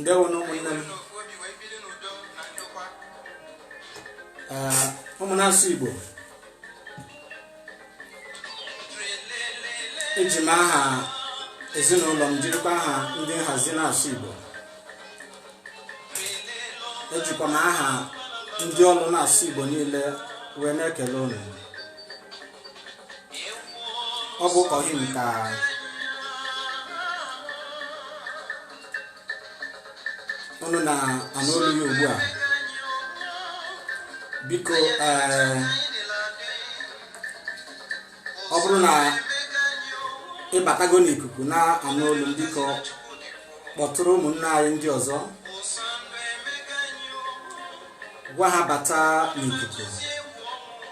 ndewonụ ụmụnne m ụmụ na-asụ igbo eji m aha ezinụlọ m jirikwa aha ndị nhazi na-asụ igbo ejikwa m aha ndị ọrụ na-asụ igbo niile wee na-ekele unu ọ bụ ọhị ka unu na-anụ olu ya ugbu a biko ee ọ bụrụ na ịbatago n'ikuku na-anụ olu m biko kpọtụrụ ụmụnne anyị ndị ọzọ gwa ha bata n'ikuku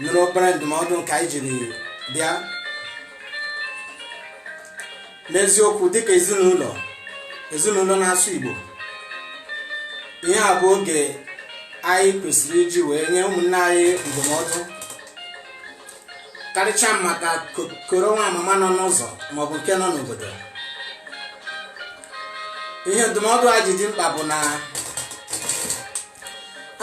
nụrụ obere ndụmọdụ nke anyị jiri bịa n'eziokwu dịka ezinụlọ ezinụlọ na-asụ igbo ihe a bụ oge anyị kwesịrị iji wee nye ụmụnne anyị ndụmọdụ karịchaa maka ko- koro nwa amama nọ n'ụzọ maọbụ nke nọ n'obodo ihe ndụmọdụ a ji dị mkpa bụ na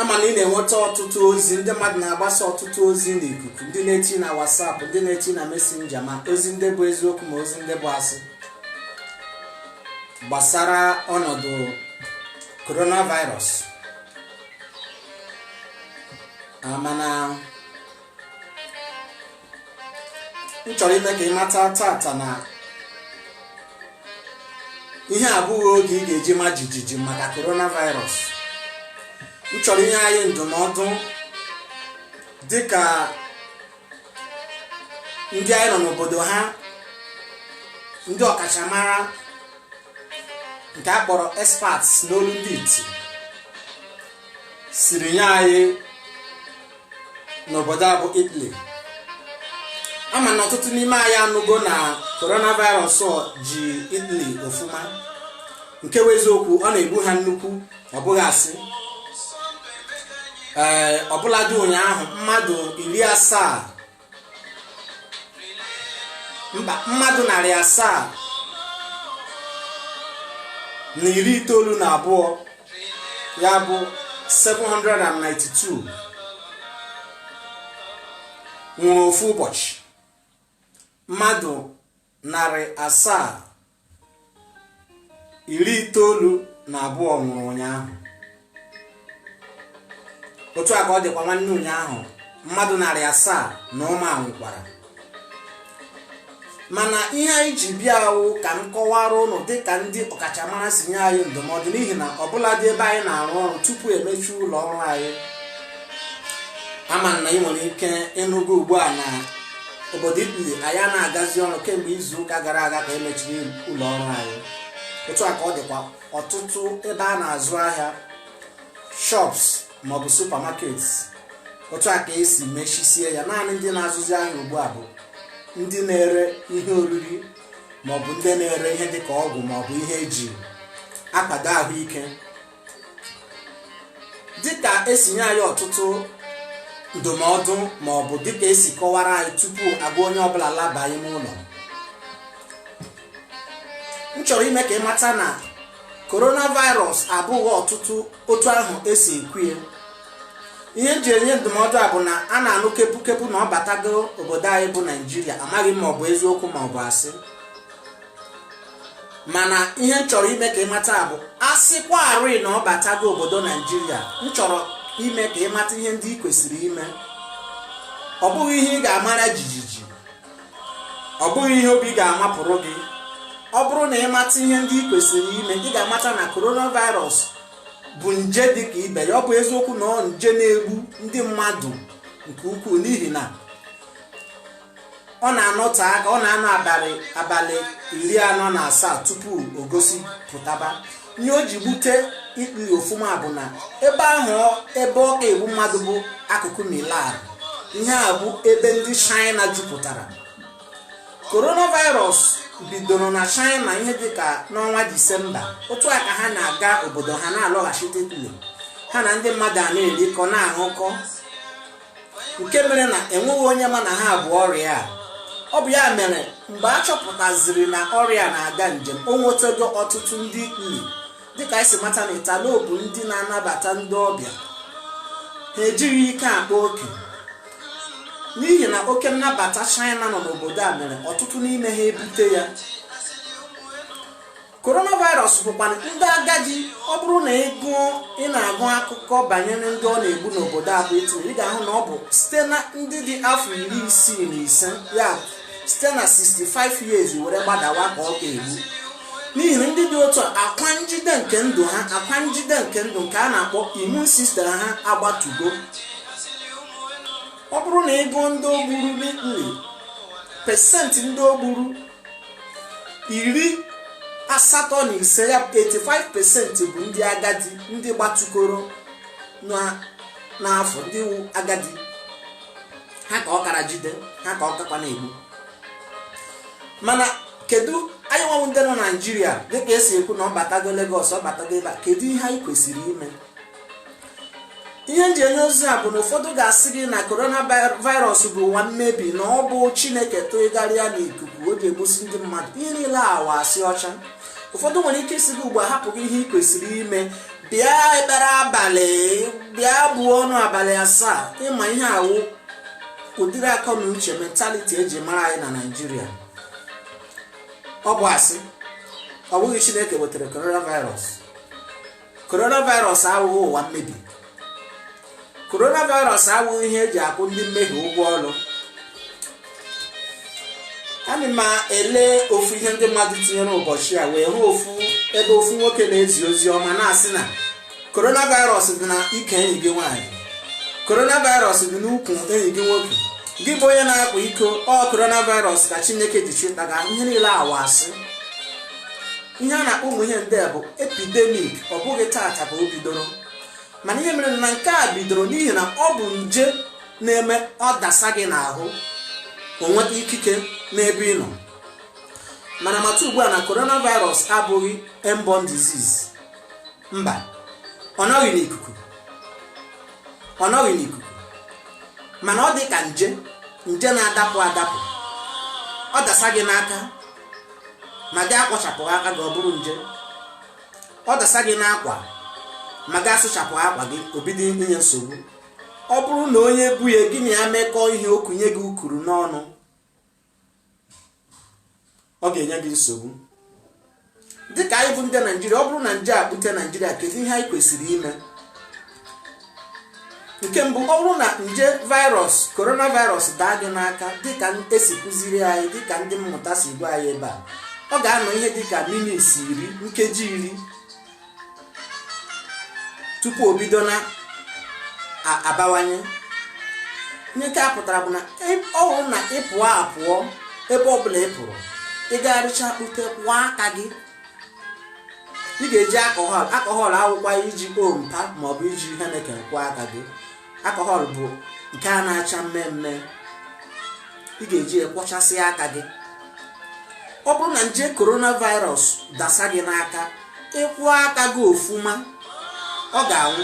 ama m na ị na-enweta ọtụtụ ozi ndị mmadụ na-agbasa ọtụtụ ozi n'ikuku ndị na-eti na WhatsApp ndị na-eti na Messenger ma ozi ndị bụ eziokwu ma ozi ndị bụ asị gbasara ọnọdụ coronavirus mana m chọrọ ime ka ị mata tata na ihe a abụghị oge ị ga-eji ma jijiji maka coronavirus m chọrọ inye anyị ndụmọdụ dịka ndị anyị nọ n'obodo ha ndị ọkachamara nke a kpọrọ experts n'olu ndị iti siri nye anyị n'obodo a bụ Italy ama m na ọtụtụ n'ime anyị anụgo na coronavirus ji Italy ofuma nke bụ eziokwu ọ na-egbu ha nnukwu ọ bụghị asị ee ọbụladị ụnyaahụ mmadụ iri asaa mba mmadụ narị asaa na iri itoolu na abụọ ya bụ 792 nwụrụ ofu ụbọchị mmadụ narị asaa iri itoolu na abụọ nwụrụ ụnyaahụ otu a ka ọ dịkwa nwanne ụnyaahụ mmadụ narị asaa na ụma nwụkwara mana ihe anyị ji bịa wụ ka m kọwara ụnụ dịka ndị ọkachamara si nye anyị ndụmọdụ n'ihi na ọbụladị ebe anyị na-arụ ọrụ tupu emechi ụlọ ọrụ anyị ama m na ị nwere ike ịnụgo ugbu a na obodo italy anyị a na-agazi ọrụ kemgbe izu ụka gara aga ka emechiri ụlọ ọrụ anyị otu a ka ọ dịkwa ọtụtụ ebe a na-azụ ahịa shops maọbụ supermarkets otu a ka esi mechisie ya naanị ndị na-azụzi ahịa ugbu a bụ ndị na-ere ihe oriri maọbụ ndị na-ere ihe dịka ọgwụ maọbụ ihe eji akwado ahụike dịka esi nye anyị ọtụtụ ndụmọdụ ma ọ bụ dịka esi kọwara anyị tupu agwa onye ọbụla laba ime ụlọ m chọrọ ime ka ị mata na coronavirus abụghị ọtụtụ otu ahụ esi ekwu ya ihe m ji enye ndụmọdụ a bụ na a na-anụ kepukepu na ọ batago obodo anyị bụ naijiria amaghị m ma ọ bụ eziokwu ma ọ bụ asị mana ihe m chọrọ ime ka ị mata bụ a sịkwarị na ọ batago obodo naijiria m chọrọ ime ka ị mata ihe ndị ị kwesịrị ime ọ bụghị ihe ị ga-amara jijiji ọ bụghị ihe obi ga-amapụrụ gị ọ bụrụ na ị mata ihe ndị ị kwesịrị ime ị ga-amata na coronavirus bụ nje dị ka ibe ya ọ bụ eziokwu na ọ nje na-egbu ndị mmadụ nke ukwuu n'ihi na ọ na-anọte aka ọ na-anọ abalị abalị iri anọ na asaa tupu o gosipụtaba ihe o ji gbute italy ofụma bụ na ebe ahụ ọ- ebe ọ ka egbu mmadụ bụ akụkụ milan ihe a bụ ebe ndị china jupụtara coronavirus bidoro na china ihe dịka n'ọnwa disemba otu a ka ha na-aga obodo ha na-alọghachite italy ha na ndị mmadụ a na-erikọ na-aṅụkọ nke mere na enweghị onye ma na ha bu ọrịa a ọ bụ ya mere mgbe a chọpụtaziri na ọrịa na-aga njem o nwetego ọtụtụ ndị italy dịka anyị si mata na italy bụ ndị na-anabata ndị ọbịa ha ejighị ike akpa oke n'ihi na oke nnabata china nọ n'obodo a mere ọtụtụ n'ime ha ebute ya coronavirus bụkwa ndị agadi ọ bụrụ na ị gụọ ị na-agụ akụkọ banyere ndị ọ na-egbu n'obodo a bụ italy ị ga-ahụ na ọ bụ site na ndị dị afọ iri isii na ise ya site na 65 years were gbadawa ka ọ ka egbu n'ihi na ndị dị otu a akwa njide nke ndụ ha akwa njide nke ndụ nke a na-akpọ immune system ha agbatugo ọ bụrụ na ị gụọ ndị o gburu n'italy pesentị ndị o gburu iri asatọ na ise ya 85 pesenti bụ ndị agadi ndị gbatụkoro n'afọ ndị wu agadi ha ka ọ kara jide ha ka ọ kakwa na-egbu mana kedu anyị nwa wụ ndị nọ naijiria dịka e si ekwu na ọ batago Lagos ọ batago ebe a kedu ihe anyị kwesịrị ime ihe m ji enye ozi a bụ na ụfọdụ ga-asị gị na coronavirus bụ ụwa mmebi na ọ bụ chineke tụghara ya n'ikuku o ji egbusi ndị mmadụ ihe niile a wụ asị ọcha ụfọdụ nwere ike ịsị gị ugbu a hapụ gị ihe ị kwesịrị ime bịa ekpere abalị bịa buo ọnụ abalị asaa ị ma ihe a wụ ụdịrị akọ na uche mentality e ji mara anyị na naijiria ọ bụ asị ọ bụghị chineke wetara coronavirus coronavirus awụghị ụwa mmebi coronavirus awụghị ihe e ji akwụ ndị mmehie ụgwọ ọrụ ana m ele ofu ihe ndị mmadụ tinyere ụbọchị a wee hụ ofu ebe ofu nwoke na-ezi ozi ọma na-asị na coronavirus dị na ike enyi gị nwaanyị coronavirus dị n'ukwu enyi gị nwoke gị bụ onye na-akwa iko ọ coronavirus ka chineke ji chịta gị ihe niile a wụ asị ihe a na-akpọ ụmụ ihe ndị a bụ epidemic ọ bụghị taata ka o bidoro mana ihe mere na nke a bidoro n'ihi na ọ bụ nje na-eme ọ dasa gị n'ahụ o nweta ikike n'ebe ị nọ mana mata ugbu a na coronavirus abụghị airborne disease mba ọ nọghị n'ikuku ọ nọghị n'ikuku mana ọ dị ka nje nje na-adapụ adapụ ọ dasa gị n'aka ma gị akwọchapụ aka gị ọ bụrụ nje ọ dasa gị n'akwa ma gị asụchapụ akwa gị o bido inye nsogbu ọ bụrụ na onye bu ya gị na ya mekọọ ihe o kunye gị ukuru n'ọnụ ọ ga-enye gị nsogbu dịka anyị bụ ndị naijiria ọ bụrụ na nje a bute naijiria kedu ihe anyị kwesịrị ime nke mbụ ọ bụrụ na nje virus coronavirus daa gị n'aka dịka e si kụziri anyị dịka ndị mmụta si gwa anyị ebe a ọ ga-anọ ihe dịka minutes iri nkeji iri tupu o bido na a- abawanye ihe nke a pụtara bụ na ị- ọ bụrụ na ị pụọ apụọ ebe ọbụla ị pụrụ ị gagharịcha kpute kwọọ aka gị ị ga-eji alcohol alcohol awụkwa iji ompa maọbụ iji Heineken kwọọ aka gị alcohol bụ nke a na-acha mmee mmee ị ga-eji akwọchasị aka gị ọ bụrụ na nje coronavirus dasa gị n'aka ị kwọọ aka gị ofuma ọ ga-anwụ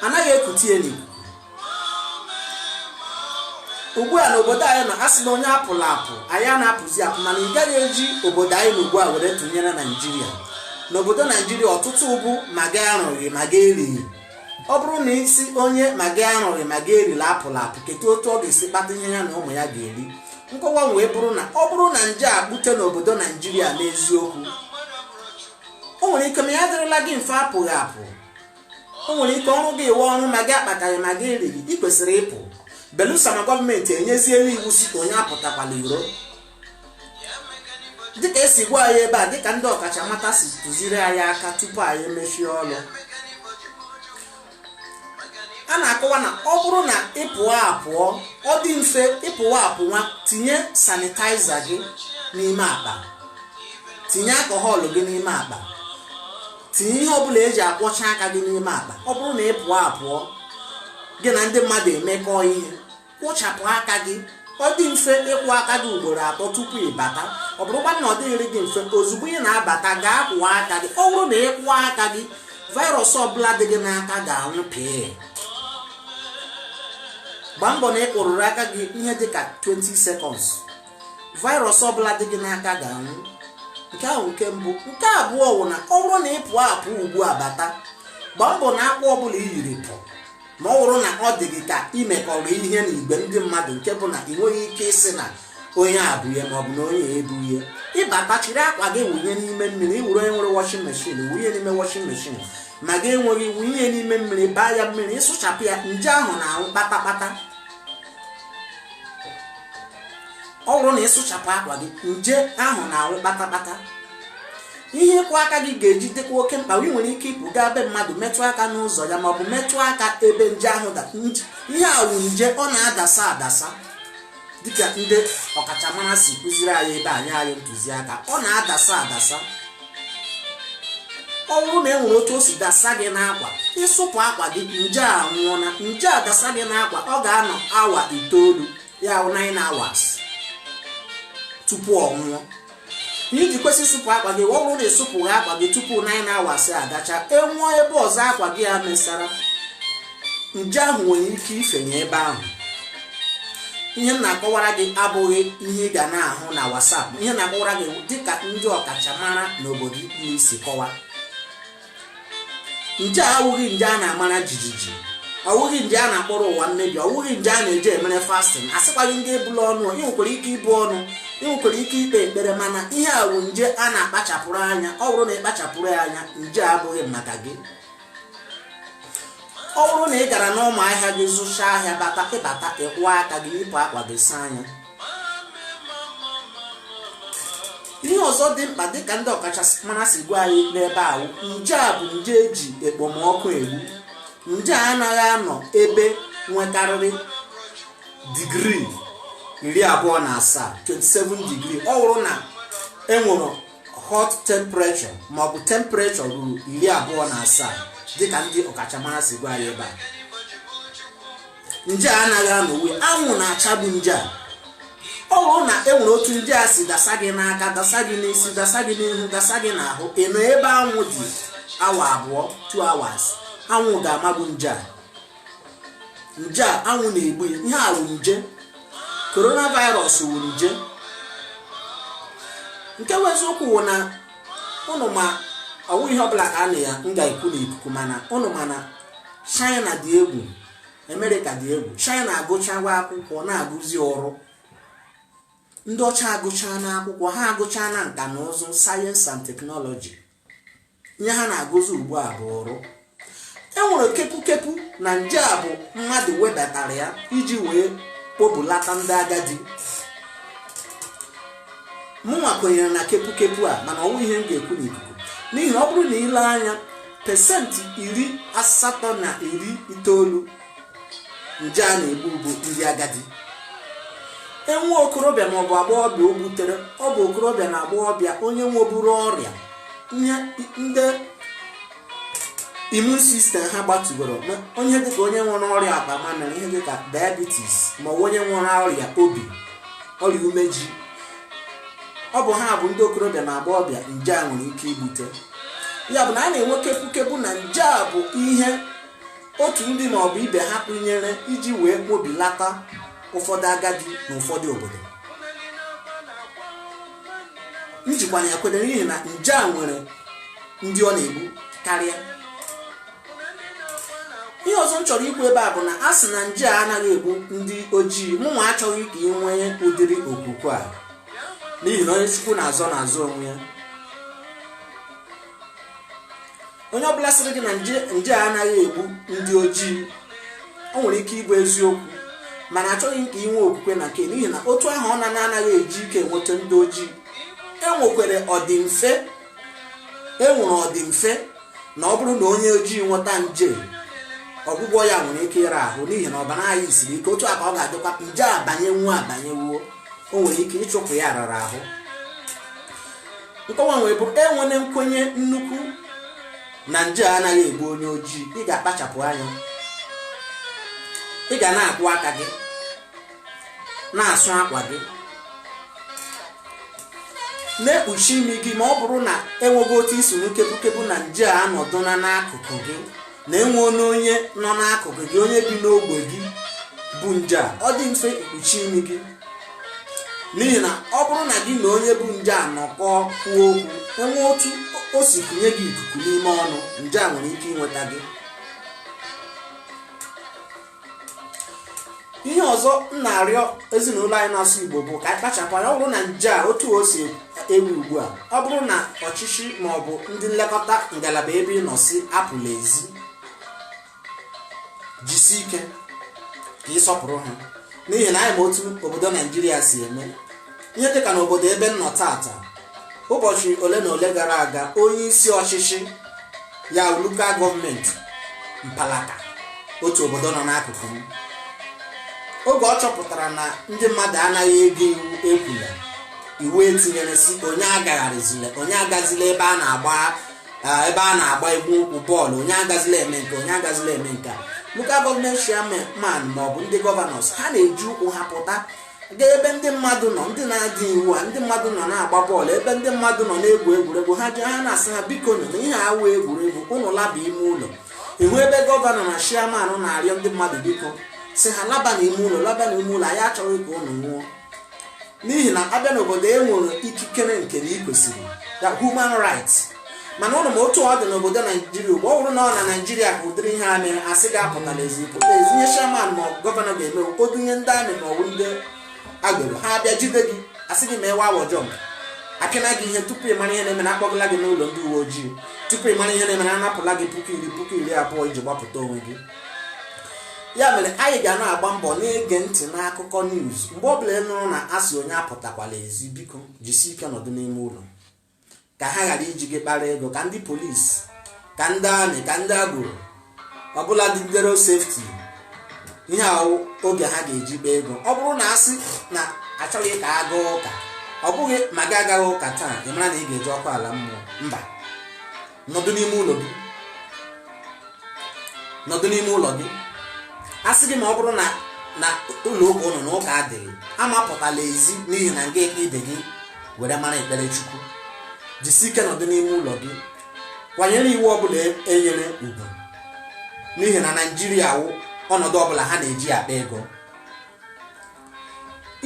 anaghị ekute ya n'ikuku ugbu a n'obodo anyị nọ a sị na onye apụla apụ anyị a na-apụzi apụ mana ị gaghị eji obodo anyị nọ ugbu a were tụnyere naijiria n'obodo naijiria ọtụtụ bụ ma gị arụghị ma gị erighị ọ bụrụ na ị sị onye ma gị arụghị ma gị erila apụla apụ kedu otu ọ ga-esi kpata ihe ya na ụmụ ya ga-eri nkọwa wee bụrụ na ọ bụrụ na nje a pụta n'obodo naijiria n'eziokwu o nwere ike ma ya adịrịla gị mfe apụghị apụ o nwere ike ọrụ gị ịwụ ọrụ ma gị akpataghị ma gị erighị ị kwesịrị ịpụ belụsọ ma gọọmenti enyeziela iwu sị ka onye apụtakwala iro dịka e si gwa anyị ebe a dịka ndị ọkachamata si tụziri anyị aka tupu anyị emechie ọrụ a na-akọwa na ọ bụrụ na ị pụọ apụọ ọ dị mfe ị pụwa apụwa tinye sanitaiza gị n'ime akpa tinye alcohol gị n'ime akpa tinye ihe ọbụla e ji akwọcha aka gị n'ime akpa ọ bụrụ na ị pụọ apụọ gị na ndị mmadụ emekọ ihe kwụchapụ aka gị ọ dị mfe ịkwụ aka gị ugboro atọ tupu ị bata ọ bụrụkwa na ọ dịghịrị gị mfe ozugbo ị na-abata gaa kwụọ aka gị ọ bụrụ na ị kwụọ aka gị virus ọbụla dị gị n'aka ga-anwụ pịị gbaa mbọ na ị kwụrụrụ aka gị ihe dị ka 20 seconds virus ọbụla dị gị n'aka ga-anwụ nke ahụ wụ nke mbụ nke abụọ wụ na ọ bụrụ na ị pụọ apụ ugbu a bata gbaa mbọ na akwa ọbụla i yiri pụ ma ọ bụrụ na ọ dị gị ka i mekọrọ ihe na igwe ndị mmadụ nke bụ na ị nweghị ike ịsị na onye a bu ihe maọbụ na onye ebu ihe ị bata chịrị akwa gị wụnye n'ime mmiri ị wụrụ onye nwere washing machine wụnye n'ime washing machine ma gị enweghị wụnye n'ime mmiri baa ya mmiri ị sụchapụ ya nje ahụ na-anwụ kpatakpata ọ bụrụ na ị sụchapụ akwa gị nje ahụ na-anwụ kpatakpata ihe ịkwụ aka gị ga-eji dịkwa oke mkpa wụ ị nwere ike ịpụ gaa be mmadụ metụ aka n'ụzọ ya maọbụ metụ aka ebe nje ahụ da nje- ihe a wụ nje ọ na-adasa adasa dịka ndị ọkachamara si kụziri anyị ebe a nye anyị ntụziaka ọ na-adasa adasa ọ bụrụ na e nwere otu o si dasa gị n'akwa ị sụpụ akwa gị nje a anwụọ na nje a dasa gị n'akwa ọ ga-anọ awa itoolu ya wụ 9 hours tupu ọ nwụọ i ji kwesị ịsụpụ akwa gị ọ bụrụ na ị sụpụghị akwa gị tupu 9 hours agacha e nwee ebe ọzọ akwa gị a mesara nje ahụ nwere ike ifenye ebe ahụ ihe m na-akọwara gị abụghị ihe ị ga na-ahụ na WhatsApp ihe na-akọwara gị dịka ndị ọkachamara n'obodo m bi si kọwa nje a awụghị nje a na-amara jijiji ọ wụghị nje a na-akpọrọ ụwa mmebi ọ wụghị nje a na-eji emere fasting asịkwaghị m gị ebula ọnụ ị nwekwara ike ibu ọnụ ị nwekwara ike ikpe ekpere mana ihe a bụ nje a na-akpachapụrụ anya ọ bụrụ na ị kpachapụrụ ya anya nje abụghị maka gị ọ bụrụ na ị gara n'ụmụ ahịa gị zụcha ahịa bata ị bata ị kwọọ aka gị yipụ akwa gị saa anya ihe ọzọ dị mkpa dịka ndị ọkachamara si gwa anyị n'ebe ahụ nje a bụ nje e ji ekpomọkụ egbu nje a anaghị anọ ebe nwekarịrị digrii iri abụọ na asaa 27 digrii ọ bụrụ na e nwere hot temperature ma ọ bụ temperature ruru iri abụọ na asaa dịka ndị ọkachamara si gwa anyị ebe a nje a anaghị anọnwu anwụ na-achagbu nje a ọ bụrụ na e nwere otu nje a si dasa gị n'aka dasa gị n'isi dasa gị n'ihu dasa gị n'ahụ ị nọ ebe anwụ dị awa abụọ 2 hours anwụ ga-amagbu nje a nje a anwụ na-egbu ya ihe a wụ nje coronavirus wụ nje nke bụ eziokwu wụ na ụnụ ma ọ wụghị ihe ọbụla ka a na ya m ga-ekwu n'ikuku mana ụnụ ma na China dị egwu Amerịka dị egwu China agụchawa akwụkwọ na-agụzi ọrụ ndị ọcha agụchaana akwụkwọ ha agụchaana nka na ụzụ science and technology ihe ha na-agụzi ugbu a bụ ọrụ e nwere kepukepu na nje a bụ mmadụ wedatara ya iji wee kpobilata ndị agadi mụnwa kwenyere na kepukepu a mana ọ wụghị ihe m ga-ekwu n'ikuku n'ihi ọ bụrụ na i lee anya pesenti iri asatọ na iri itoolu nje a na-egbu bụ ndị agadi e nwee okorobịa ma ọ bụ agbọghọbịa o butere ọ bụ okorobịa na agbọghọbịa onye nweburu ọrịa ihe ndị immune system ha gbatugoro onye dịka onye nwere ọrịa akpa mamịrị ihe dịka diabetes ma ọ bụ onye nwere ọrịa obi ọrịa umeji ọ bụ ha bụ ndị okorobịa na agbọghọbịa nje a nwere ike ibute ya bụ na a na-enwe kepukepu na nje a bụ ihe otu ndị ma ọ bụ ibe ha kụnyere iji wee kpobilata ụfọdụ agadi na ụfọdụ obodo m jikwa ya kwere n'ihi na nje a nwere ndị ọ na-egbu karịa ihe ọzọ m chọrọ ikwu ebe a bụ na a sị na nje a anaghị egbu ndị ojii mụnwa achọghị ka ị nwee ụdịrị okwukwe a n'ihi na onye Chukwu na-azọ na-azọ onwe ya onye ọbụla sịrị gị na nje a anaghị egbu ndị ojii o nwere ike ịbụ eziokwu mana achọghị m ka ị nwee okwukwe na nke n'ihi na otu ahụ ọ na-anaghị eji ike enweta ndị ojii e nwekwere ọdịmfe e nwere ọdịmfe na ọ bụrụ na onye ojii nweta nje ọgwụgwọ ya nwere ike ịra ahụ n'ihi na ọbara anyị siri ike otu a ka ọ ga-adịkwa nje abanyenwu abanyenwuo o nwere ike ịchụpụ ya rara ahụ nkọwa nwere bụ enwere nkwenye nnukwu na nje anaghị egbu onye ojii ị ga-akpachapụ anya ị ga na-akwọ aka gị na-asụ akwa gị na-ekpuchi imi gị ma ọ bụrụ na enwego otu i si nụ kepukepu na nje a nọdụla n'akụkụ gị na enwe onye onye nọ n'akụkụ gị onye bi n'ogbe gị bu nje a ọ dị mfe ikpuchi imi gị n'ihi na ọ bụrụ na gị na onye bu nje a nọkọọ kwuo okwu enwee otu o si kunye gị ikuku n'ime ọnụ nje a nwere ike inweta gị ihe ọzọ m na-arịọ ezinụlọ anyị na-asụ igbo bụ ka anyị kpachapụ anya ọ bụrụ na nje a otu o si ewu ugbu a ọ bụrụ na ọchịchị ma ọ bụ ndị nlekọta ngalaba ebe ị nọ sị apụla ezi jisi ike ka ị sọpụrụ ha n'ihi na anyị ma otu obodo naijiria si eme ihe dịka na obodo ebe m nọ taata ụbọchị ole na ole gara aga onye isi ọchịchị ya local government mpaghara otu obodo nọ n'akụkụ m oge ọ chọpụtara na ndị mmadụ anaghị ege iwu ekwula iwu etinyere sị onye agagharịzila onye agazila ebe a na-agba ebe a na-agba egwu ụkwụ bọọlụ onye agazila eme nke onye agazila eme nke a local government chairman ma ọ bụ ndị governors ha na-eji ụkwụ ha pụta gaa ebe ndị mmadụ nọ ndị na-ada iwu a ndị mmadụ nọ na-agba bọọlụ ebe ndị mmadụ nọ na-egwu egwuregwu ha jụọ ha na-asị ha bikonụ na ihe a awụ egwuregwu ụnụ laba ime ụlọ ị hụ ebe gọvanọ na chairman na-arịọ ndị mmadụ biko sị ha laba na ime ụlọ laba na ime ụlọ anyị achọghị ka ụnụ nwụọ n'ihi na abịa n'obodo e nwere ikikere nke na ikwesịrị the human rights mana ụnụ ma otu ọ dị n'obodo naijiria ugbu a ọ bụrụ na ọ na naijiria ka ụdịrị ihe a mere asị gị apụtala ezi ị pụta ezi ihe chairman ma gọvanọ ga-eme o dunye ndị army ma ọ wụ ndị agbero ha abịa jide gị asị gị mee wawa jump apịana gị ihe tupu ị mara ihe na-eme na akpọgala gị n'ụlọ ndị uwe ojii tupu ị mara ihe na-eme na anapụla gị puku iri puku iri abụọ iji gbapụta onwe gị ya mere anyị ga na-agba mbọ na-ege ntị n'akụkọ news mgbe ọ bụla ị nụrụ na asị onye apụtakwala ezi biko jisi ike nọdụ n'ime ụlọ ka ha ghara iji gị kpara ego ka ndị police ka ndị army ka ndị agboro ọ bụladị ndị road safety ihe a wụ oge ha ga-eji kpaa ego ọ bụrụ na asị na achọghị ka a gaa ụka ọ bụghị ma gị agaghị ụka taa ị mara na ị ga-eje ọkụ ala mmụọ mba nọdụ n'ime ụlọ gị nọdụ n'ime ụlọ gị a sị gị ma ọ bụrụ na na ụlọ ụka ụnụ na ụka adịghị amapụtala ezi n'ihi na ị ga-ekpe ibe gị were mara ekpere chukwu jisi ike nọdụ n'ime ụlọ gị kwanyere iwu ọbụla enyere ugwu n'ihi na naijiria wụ ọnọdụ ọbụla ha na-eji akpa ego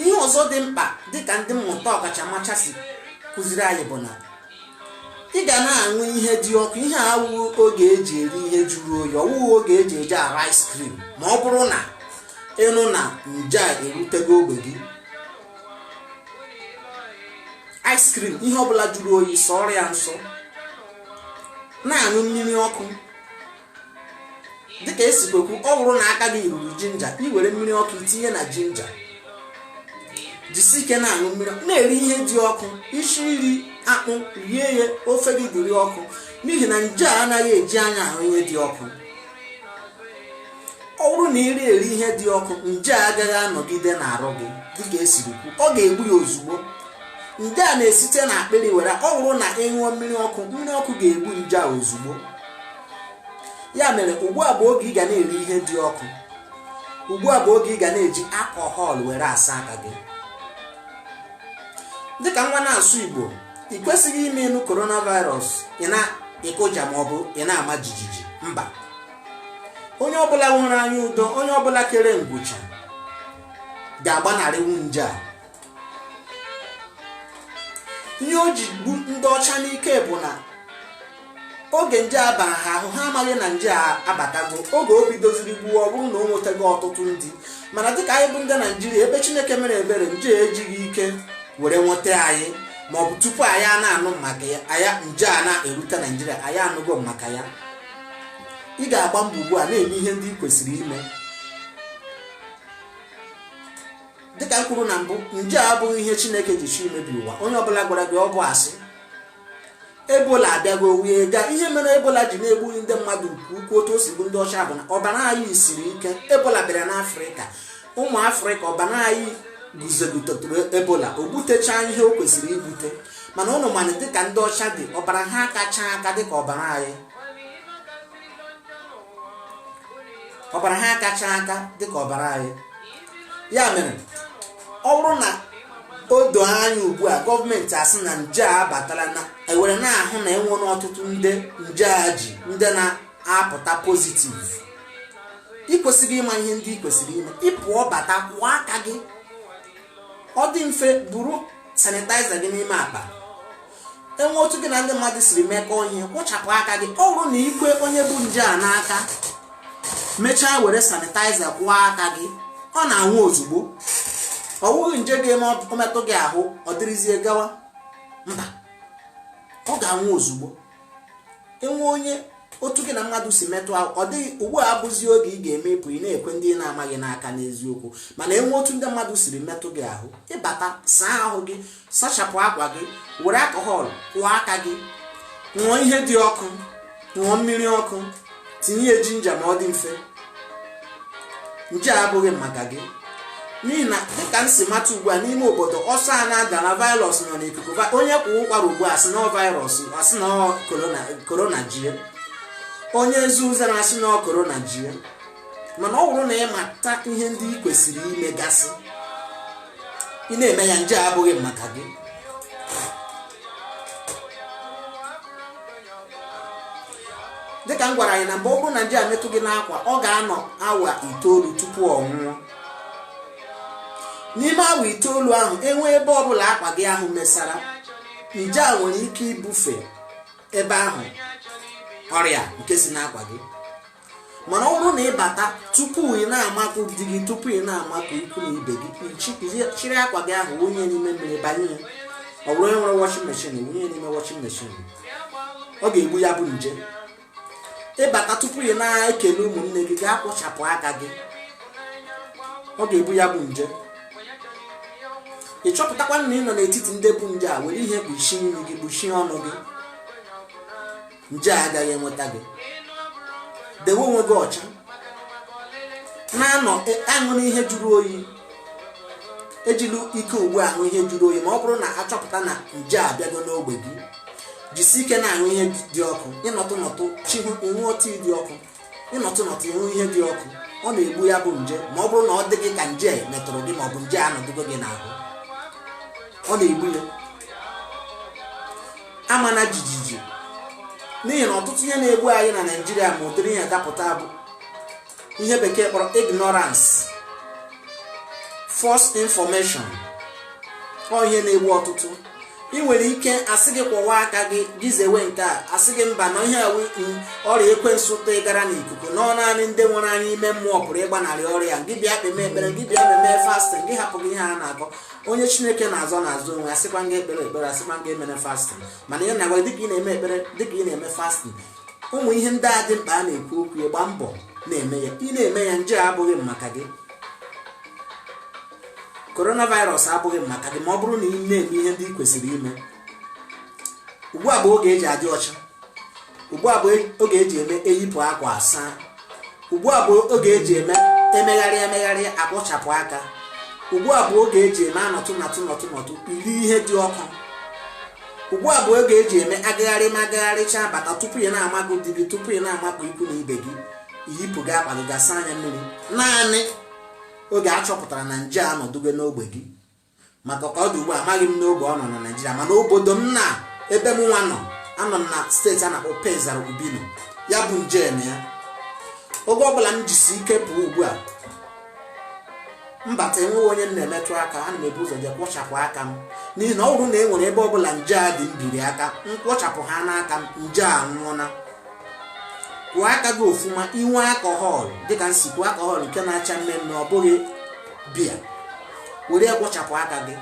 ihe ọzọ dị mkpa dịka ndị mmụta ọkachamacha si kụziri anyị bụ na ị ga na-aṅụ ihe dị ọkụ ihe awụghị oge eji eri ihe jụrụ oyi ọwụghị oge eji eji ara ice cream ma ọ bụrụ na ị nụ na nje a erutego ogbe gị ice cream ihe ọbụla jụrụ oyi sọọrọ ya nsọ na-aṅụ mmiri ọkụ dịka esi wee kwu ọ bụrụ na aka gị ruru jinja i were mmiri ọkụ i tinye na jinja jisi ike na-aṅụ mmiri na-eri ihe dị ọkụ isi iri akpụ rie ya ofe gị dịrị ọkụ n'ihi na nje a anaghị eji anya ahụ ihe dị ọkụ ọ bụrụ na ị rie eri ihe dị ọkụ nje a agaghị anọgide n'arụ gị dịka esiri kwu ọ ga-egbu ya ozugbo nje a na-esite na akpịrị were ọ bụrụ na ị ṅụọ mmiri ọkụ mmiri ọkụ ga-egbu nje a ozugbo ya mere ugbu a bụ oge ị ga na-eri ihe dị ọkụ ugbu a bụ oge ị ga na-eji alcohol were asa aka gị dịka nwa na-asụ igbo ị kwesịghị ime ịnụ coronavirus ị na-ekụja ma ọ bụ ị na-ama jijiji mba onye ọbụla nwere anya udo onye ọbụla kere nkwụcha ga-agbanarịwu nje a ihe o ji gbu ndị ọcha n'ike bụ na oge nje a bara ha ahụ ha amaghị na nje a abatago oge o bidoziri gbuo ọ bụrụ na o nwetago ọtụtụ ndị mana dịka anyị bụ ndị naijiria ebe chineke mere ebere nje ejighị ike were nweta anyị ma ọ bụ tupu anyị a na-anụ maka ya nje a na-erute naijiria anyị anụgo maka ya ị ga-agba mbọ ugbu a na-eme ihe ndị ị kwesịrị ime dịka m kwuru na mbụ nje a abụghị ihe chineke ji chọọ imebi ụwa onye ọbụla gwara gị ọ bụ asị ebola abịago wee gaa ihe mere ebola ji na-egbughị ndị mmadụ nke ukwuu otu o si gbu ndị ọcha bụ na ọbara anyị siri ike ebola bịara n'afrịka ụmụ afrịka ọbara anyị guzogidetụrụ ebola o gbutechaa ihe o kwesịrị igbute mana ụnụ ma na dịka ndị ọcha dị ọbara ha akacha aka dịka ọbara anyị ọbara ha akacha aka dịka ọbara anyị ya mere ọ bụrụ na o doo anya ugbu a gọọmenti asị na nje a abatala na ewere na-ahụ na enwere ọtụtụ ndị nje a ji ndị na-apụta positive ị kwesịrị ịma ihe ndị ị kwesịrị ime ị pụọ bata kwụọ aka gị ọ dị mfe buru sanitizer gị n'ime akpa enwe otu gị na ndị mmadụ siri mekọọ ihe kwụchapụ aka gị ọ bụrụ na i kwee onye bu nje a n'aka mechaa were sanitaiza kwụọ aka gị ọ na-anwụ ozugbo ọ bụghị nje ga-eme ọ metụ gị ahụ ọ dịrịzie gawa mba ọ ga-anwụ ozugbo enwe onye otu gị na mmadụ si metụ ahụ ọ dịghị ugbu a abụzi oge ị ga-eme ị pụ ị na-ekwe ndị ị na-amaghị n'aka n'eziokwu mana enwe otu ndị mmadụ siri metụ gị ahụ ị bata saa ahụ gị sachapụ akwa gị were alcohol kwụọ aka gị ṅụọ ihe dị ọkụ ṅụọ mmiri ọkụ tinye ya jinja ma ọ dị mfe nje a abụghị maka gị n'ihi na dịka m si mata ugbu a n'ime obodo ọsọ a na-adara virus nọ n'ikuku va- onye kwaa ụkwara ugbu a sị na ọ virus a sị na ọ korona korona jie onye zee uzere a sị na ọ korona jie mana ọ bụrụ na ị mata ihe ndị ị kwesịrị ime gasị ị na-eme ya nje abụghị maka gị dịka m gwara anyị na mbụ ọ bụrụ na nje a metụ gị n'akwa ọ ga-anọ awa itoolu tupu ọ nwụọ n'ime awa itoolu ahụ enwe ebe ọbụla akwa gị ahụ mesara nje a nwere ike ibufe ebe ahụ ọrịa nke si n'akwa gị mana ọ bụrụ na ị bata tupu ị na-amakụ di gị tupu ị na-amakụ ikwu na ibe gị chịrị akwa gị ahụ wụnye n'ime mmiri banye ya ọ bụrụ onye nwere washing machine wụnye n'ime washing machine ọ ga-egbu ya bụ nje ị bata tupu ị na-ekele ụmụnne gị gaa kwụchapụ aka gị ọ ga-egbu ya bụ nje ị chọpụtakwa na ị nọ n'etiti ndị bu nje a were ihe kpuchie imi gị kpuchie ọnụ gị nje a agaghị enweta gị dewe onwe gị ọcha na-anọ e, aṅụrụ ihe jụrụ oyi ejila ike ugbu a aṅụ ihe jụrụ oyi ma ọ bụrụ na a chọpụta na nje abịago n'ogbe gị jisi ike na-aṅụ ihe dị ọkụ ị nọtụ nọtụ chihụ ị ṅụọ tii dị ọkụ ị nọtụ nọtụ ị ṅụọ ihe dị ọkụ ọ na-egbu ya bụ nje ma ọ bụrụ na ọ dị gị ka nje metụrụ gị ma ọ bụ nje anọdụgo gị n'ahụ ọ na-egbu ya amana jijiji n'ihi na ọtụtụ ihe na-egbu anyị na naijiria ma ụdịrị ihe dapụta bụ ihe bekee kpọrọ ignorance false information ọ ihe na-egbu ọtụtụ ị nwere ike asị gị kwọwa aka gị gị zewe nke a asị gị mba na ihe a wụ ọrịa ekwensu tụgara n'ikuku na ọ naanị ndị nwere anya ime mmụọ pụrụ ịgbanarị ọrịa gị bịa kpeme ekpere gị bịa meme fasting gị hapụ gị ihe a na-akọ onye chineke na-azọ na-azọ onwe ya asịkwaghị ekpere ekpere asịkwaghị emere fasting mana ihe a na-agwa dịka ị na-eme ekpere dịka ị na-eme fasting ụmụ ihe ndị a dị mkpa a na-ekwu okwu ya gbaa mbọ na-eme ya ị na-eme ya nje abụghị maka gị coronavirus abụghị maka gị ma ọ bụrụ na ị na-eme ihe ndị ị kwesịrị ime ugbu a bụ oge eji adị ọcha ugbu a bụ oge eji eme eyipụ akwa asaa ugbu a bụ oge eji eme emegharị emegharị akwọchapụ aka ugbu a bụ oge eji eme anọtụ nọtụ nọtụ nọtụ iri ihe dị ọkụ ugbu a bụ oge eji eme agagharị ma agagharịcha bata tupu ị na-amakụ di gị tupu ị na-amakụ ikwu na ibe gị yipụga akwa gị gaa sanye mmiri naanị oge a chọpụtara na nje a nọdụgo n'ogbe gị maka ka ọ dị ugbu a amaghị m n'ogbe ọ nọ na naijiria mana obodo m na ebe mụ nwa nọ anọ m na steeti a na-akpọ pesaro urbino ya bụ nje nọ ya oge ọbụla m jisi ike pụọ ugbu a m bata enweghị onye m na-emetụ aka ana m ebu ụzọ je kwọchapụ aka m n'ihi na ọ bụrụ na e nwere ebe ọbụla nje a dị m biri aka m kwọchapụ ha n'aka m nje a nwụọna kwọọ aka gị ofuma i nwee alcohol dịka m si kwuo alcohol nke na-acha mmee mmee ọ bụghị biya were ya kwọchapụ aka gị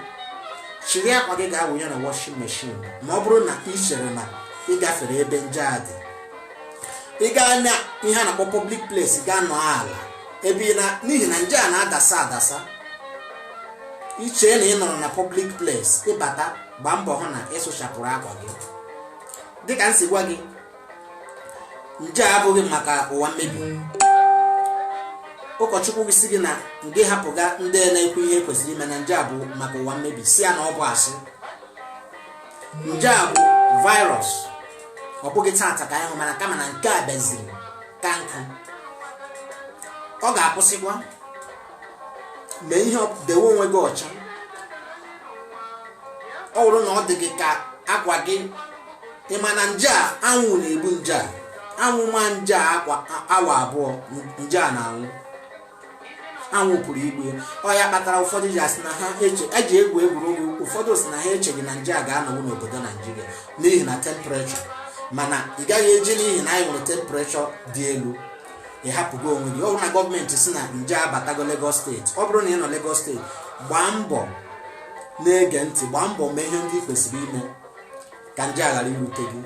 chịrị akwa gị gaa wụnye na washing machine ma ọ bụrụ na ị chere na ị gafere ebe nje a dị ị gaa na ihe a na-akpọ public place gaa nọ ala ebe ị na n'ihi na nje a na-adasa adasa i chee na ị nọrọ na public place ị bata gbaa mbọ hụ na ị sụchapụrụ akwa gị dịka m si gwa gị nje a abụghị maka ụwa mmebi ụkọchukwu gị sị gị na gị hapụga ndị na-ekwu ihe e kwesịrị ime na nje a bụ maka ụwa mmebi sị ya na ọ bụ asị nje a bụ virus ọ bụghị taata ka anyị hụ mana kama na nke a bịaziri ka nkụ ọ ga-akwụsịkwa mee ihe ọ- dewe onwe gị ọcha ọ bụrụ na ọ dị gị ka akwa gị ị ma na nje a anwụ na-egbu nje a anwụ maa nje a awa abụọ nje a na-anwụ anwụ pụrụ igbu ya ọ ya kpatara ụfọdụ ji asị na ha eji egwu egwuregwu ụfọdụ sị na ha echeghị na nje a ga-anọnwu n'obodo naijiria n'ihi na temperature mana ị gaghị eji n'ihi na anyị nwere temperature dị elu ị hapụga onwe gị ọ bụrụ na gọọmenti sị na nje a batago Lagos steeti ọ bụrụ na ị nọ Lagos steeti gbaa mbọ na-ege ntị gbaa mbọ mee ihe ndị ị kwesịrị ime ka nje a ghara irute gị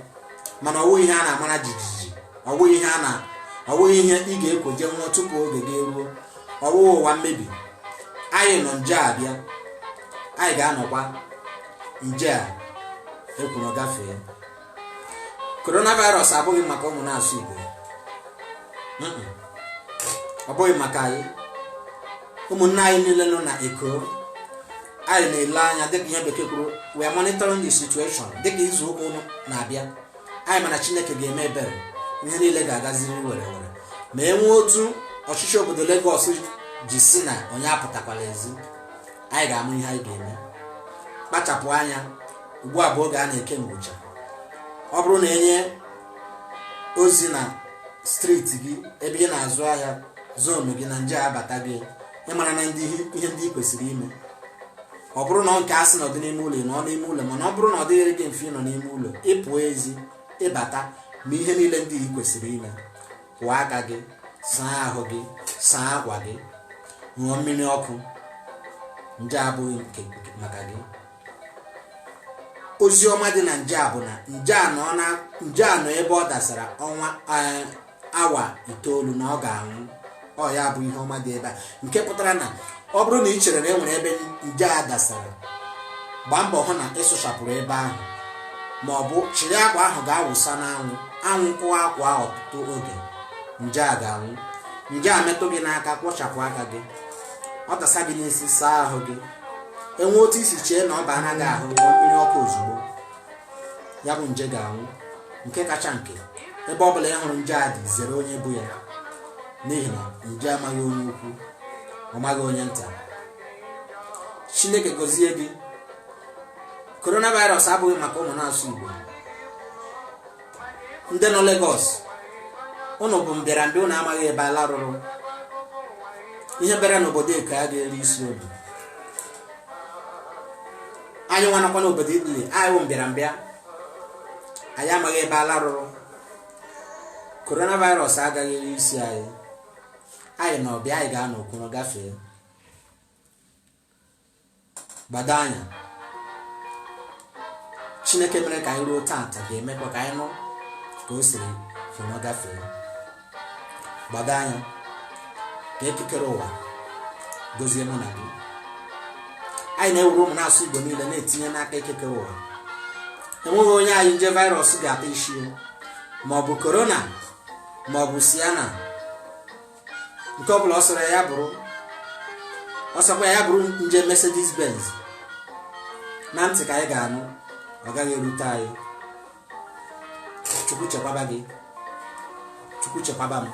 mana ọ bụghị ihe a na-amara jijiji ọ bụghị ihe a na ọ bụghị ihe ị ga-ekwo je nwụọ tupu oge gị eruo ọ bụghị ụwa mmebi anyị nọ nje a bịa anyị ga-anọkwa nje a akwụrụ gafee coronavirus abụghị maka ụmụ na-asụ igbo ọ bụghị maka anyị ụmụnne anyị niile nọ na eko anyị na-ele anya dịka ihe bekee kwuru we are monitoring the situation dịka izu ụka ụnụ na-abịa anyị ma na chineke ga-eme ebere ihe niile ga-agaziri were were ma e nwee otu ọchịchị obodo Lagos ji sị na onye apụtakwala ezi anyị ga-ama ihe anyị ga-eme kpachapụ anya ugbu a bụ oge a na-eke nkwụcha ọ bụrụ na e nye ozi na street gị ebe ị na-azụ ahịa zone gị na nje abata gị ị mara na ihe ndị ị kwesịrị ime ọ bụrụ na nke a sị nọdị n'ime ụlọ ị nọ n'ime ụlọ mana ọ bụrụ na ọ dịghịrị gị mfe ịnọ n'ime ụlọ ị pụọ ezi ị bata ma ihe niile ndị ị kwesịrị ime kwọọ aka gị saa ahụ gị saa akwa gị ṅụọ mmiri ọkụ nje abụghị maka gị ozi ọma dị na nje a bụ na nje a nọ ebe ọ dasara ọnwa eh, awa itoolu na ọ ga-anwụ ọ ya bụ ihe ọma dị ebe a nke pụtara na ọ bụrụ na ị chere na e nwere ebe nje a dasara gbaa mbọ hụ na ị sụchapụrụ ebe ahụ ma ọ bụ chịrị akwa ahụ gaa wụsa n'anwụ anwụ kụwa akwa ahụ ọtụtụ oge nje a ga-anwụ nje a metụ gị n'aka kwọchapụ aka gị ọ dasa gị n'isi saa ahụ gị e nwee otu i si chee na ọ bana gị ahụ ṅụọ mmiri ọkụ ozugbo ya bụ nje ga-anwụ nke kacha nke ebe ọ bụla ị hụrụ nje a dị zere onye bu ya n'ihi na nje amaghị onye ukwu ọ maghị onye nta chineke gọzie gị coronavirus abụghị maka ụmụ na-asụ igbo ndị nọ Lagos ụnụ bụ mbịara mbịa ụnụ amaghị ebe ala rụrụ ihe bịara n'obodo eko agaghị eri isi ọbịa anyị nwa nọkwa n'obodo Italy anyị wụ mbịara mbịa anyị amaghị ebe ala rụrụ coronavirus agaghị eri isi anyị anyị nọ ọbịa anyị ga-anọ o kuru gafee gbado anya chineke mere ka anyị ruo taata ga-emekwa ka anyị nụ ka o siri fụrụ gafee gbado anya ka eke kere ụwa gozie mụ na gị anyị na-ewuru ụmụ na-asụ igbo niile na-etinye n'aka eke kere ụwa enweghị onye anyị nje virus ga-ata isi ma ọ bụ Corona ma ọ bụ Sienna nke ọ bụla ọ sọrọ ya bụrụ ọ sọkwa ya bụrụ nje Mercedes Benz na ntị ka anyị ga-anụ ọ gaghị erute anyị chukwu chekwaba gị chukwu chekwaba m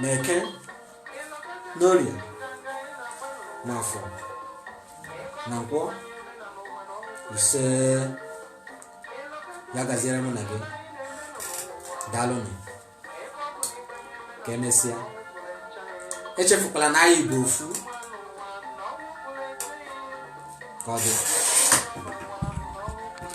na eke n'orie na afọ na nkwọ ise ya gaziere mụ na gị daalụnụ ka emesịa echefukwala na anyị bụ ofu ka ọ dị